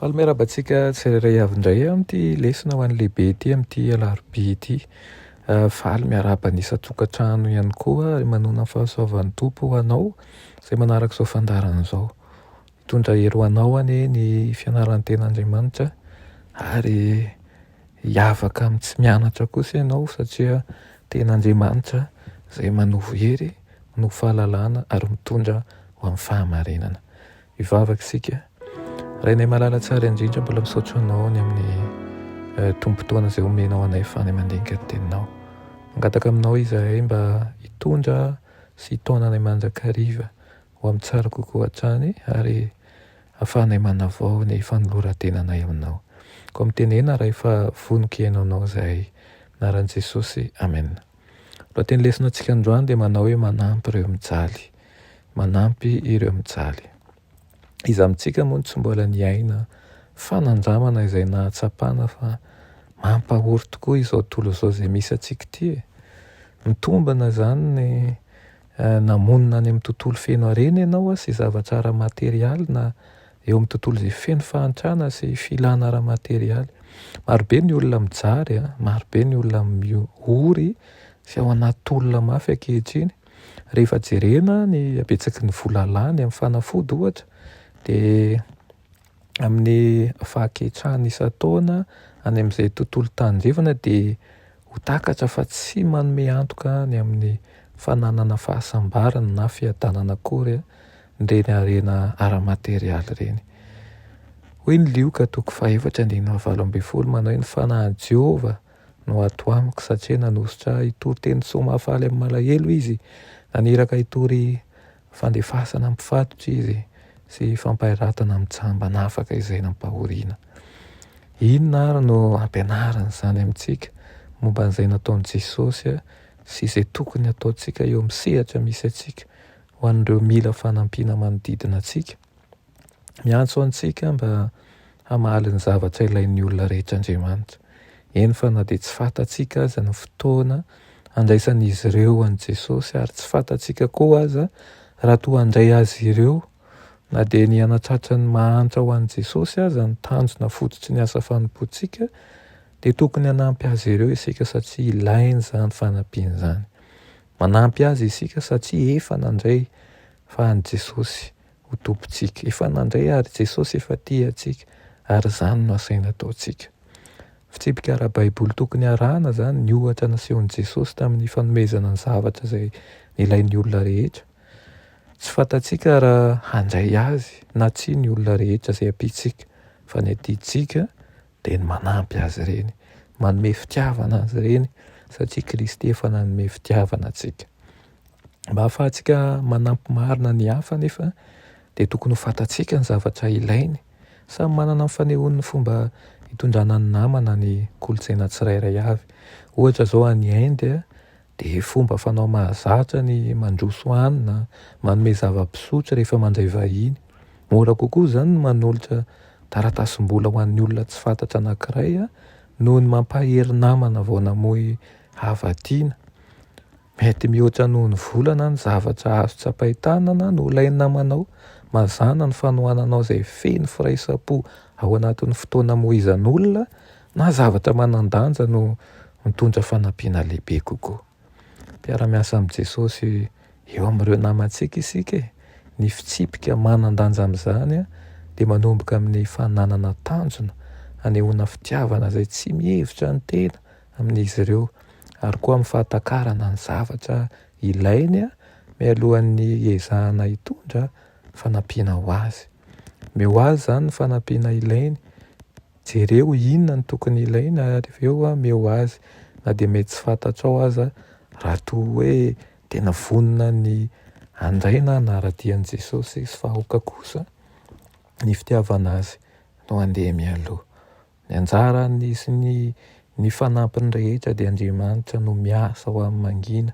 Faly miarahaba antsika tsirairay avy indray amin'ity lesona ho an'ny lehibe ity amin'ity alarobia ity. Ah, faly miarahaba ny isan-tokantrano ihany koa ary manona ny fahasoavan'ny Tompo ho anao izay manaraka izao fandaharana izao. Hitondra hery ho anao anie ny fianaranten'Andriamanitra ary hiavaka amin'ny tsy mianatra kosa ianao satria tena Andriamanitra izay manovo hery, manovo fahalalana ary mitondra ho amin'ny fahamarinana. Hivavaka isika. Rainay malala tsara indrindra, mbola misaotra anao ny amin'ny eh, tombon-potoana izay omenao anay fany mandinika ny teninao. Mangataka aminao izahay mba hitondra sy hitaona anay mandrakariva ho amin'ny tsara kokoa hatrany ary hahafahanay manavao ny fanoloran-tenanay aminao. Koa mitenena Ray fa vonoky Ianao anao izahay. Amin'ny anaran'i Jesosy, amena. Lohateny lesona antsika androany dia manao hoe manampy ireo mijaly. Manampy ireo mijaly. Iza amintsika moa no tsy mbola niaina fanandramana izay nahatsapana fa mampahory tokoa izao tontolo izao izay misy antsika ity e? Mitombina izany ny Namonina any amin'ny tontolo feno harena ianao sy zavatra ara-materialy na eo amin'ny tontolo izay feno fahantrana sy filana ara-materialy. Marobe ny olona mijaly, marobe ny olona miory sy ao anaty tolona mafy ankehitriny. Rehefa jerena ny habetsaky ny vola lany amin'ny fanafody ohatra dia amin'ny fahaketrahana isan-taona any amin'izay tontolo tandrefana dia ho takatra fa tsy manome antoka ny amin'ny fananana fahasambarana na fiadanana akory ireny harena ara-materialy ireny. Hoy ny Lioka toko fahefatra andininy valo ambin'ny folo manao ny fanahin'i Jehovah no ato amiko satria nanosotra hitory teny soa mahafaly amin'ny malahelo izy, naniraka hitory Fandefasana ny mpifatotra izy sy fampahiratana amin'ny jamba nafaka izay nampahoriana. Inona àry no ampianarin'izany amintsika momba an'izay nataon'i Jesosy sy izay tokony hataontsika eo amin'ny sehatra misy antsika ho an'ireo mila fanampiana manodidina antsika? Miantso antsika mba hamaly ny zavatra ilain'ny olona rehetra Andriamanitra, eny fa na dia tsy fantatsika aza ny fotoana handraisan'izy ireo an'i Jesosy ary tsy fantatsika koa aza raha toa handray azy ireo, na dia ny hanatratra ny mahantra ho an'i Jesosy aza no tanjona fototry ny asa fanompoantsika, dia tokony hanampy azy ireo isika satria ilainy izany fanampiana izany. Manampy azy isika satria efa nandray fa an'i Jesosy ho Tompontsika. Efa nandre àry Jesosy efa tia antsika, ary izany no asaina ataontsika. Fitsipika ara-baiboly tokony harahana izany ny ohatra nasehon'i Jesosy tamin'ny fanomezana ny zavatra izay nilain'ny olona rehetra. Tsy fantatsika raha handray azy na tsia ny olona rehetra izay ampiantsika, fa ny adidintsika dia ny manampy azy ireny, manome fitiavana azy ireny satria Kristy efa nanome fitiavana antsika. Mba hahafahantsika manampy marina ny hafa anefa dia tokony ho fantatsika ny zavatra ilainy. Samy manana ny fanehoany ny fomba hitondrana ny namana ny kolontsaina tsirairay avy. Ohatra izao any Inde Dia fomba fanao mahazatra ny mandroso hanina, manome zava-pisotro rehefa mandray vahiny. Mora kokoa izany ny manolotra taratasim-bola ho an'ny olona tsy fantatra anankiray noho ny mampahery namana vao namoy hava-tiana. Mety mihoatra noho ny vola na ny zavatra azo tsapain-tanana no ilain'ny namanao. Mazàna ny fanohananao izay feno firaisam-po ao anatin'ny fotoana amoizan'olona na zavatra manan-danja no mitondra fanampiana lehibe kokoa. Mpiara-miasa amin'i Jesosy eo amin'ireo namantsika isika e! Ny fitsipika manan-danja amin'izany dia manomboka amin'ny fananana tanjona hanehoana fitiavana izay tsy mihevitra ny tena amin'izy ireo, ary koa amin'ny fahatakarana ny zavatra ilainy mialohan'ny hiezahana hitondra fanampiana ho azy. Omeo azy izany ny fanampiana ilainy, Jereo inona no tokony ilaina ary avy eo ameo azy na dia mety tsy fantatrao aza raha toa hoe tena vonona ny handray na hanara-dia an'i Jesosy sy fa aoka kosa ny fitiavana Azy no handeha mialoha. Ny anjarany sy ny ny fanampiny rehetra dia Andriamanitra no miasa ho amin'ny mangina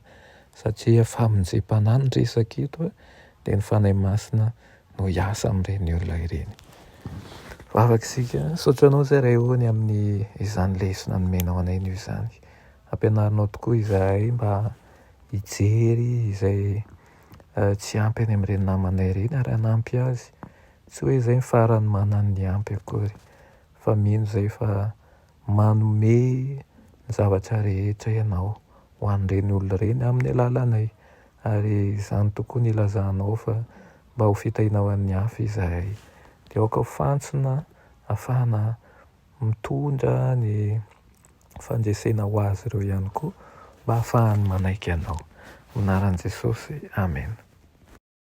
satria famonjempanahy no resaka eto dia ny Fanahy Masina no hiasa amin'ireny olona ireny. Vavaka isika, misaotra anao Zay Rayone amin'ny izany lesona nomenao anay anio izany. Ampianarinao tokoa izahay mba hijery izay eh, tsy ampy any amin'ireny namanay ireny ary hanampy azy. Tsy hoe izay ny farany manana ny ampy akory fa mino izay fa manome ny zavatra rehetra ianao ho an'ireny olona ireny amin'ny alalanay. Ary izany tokoa no ilazanao fa mba ho fitahiana ho an'ny hafa izahay. Dia aoka ho fantsona ahafahana mitondra ny fandresena ho azy ireo ihany koa mba hahafahany manaiky Anao. Amin'ny anaran'i Jesosy, amena.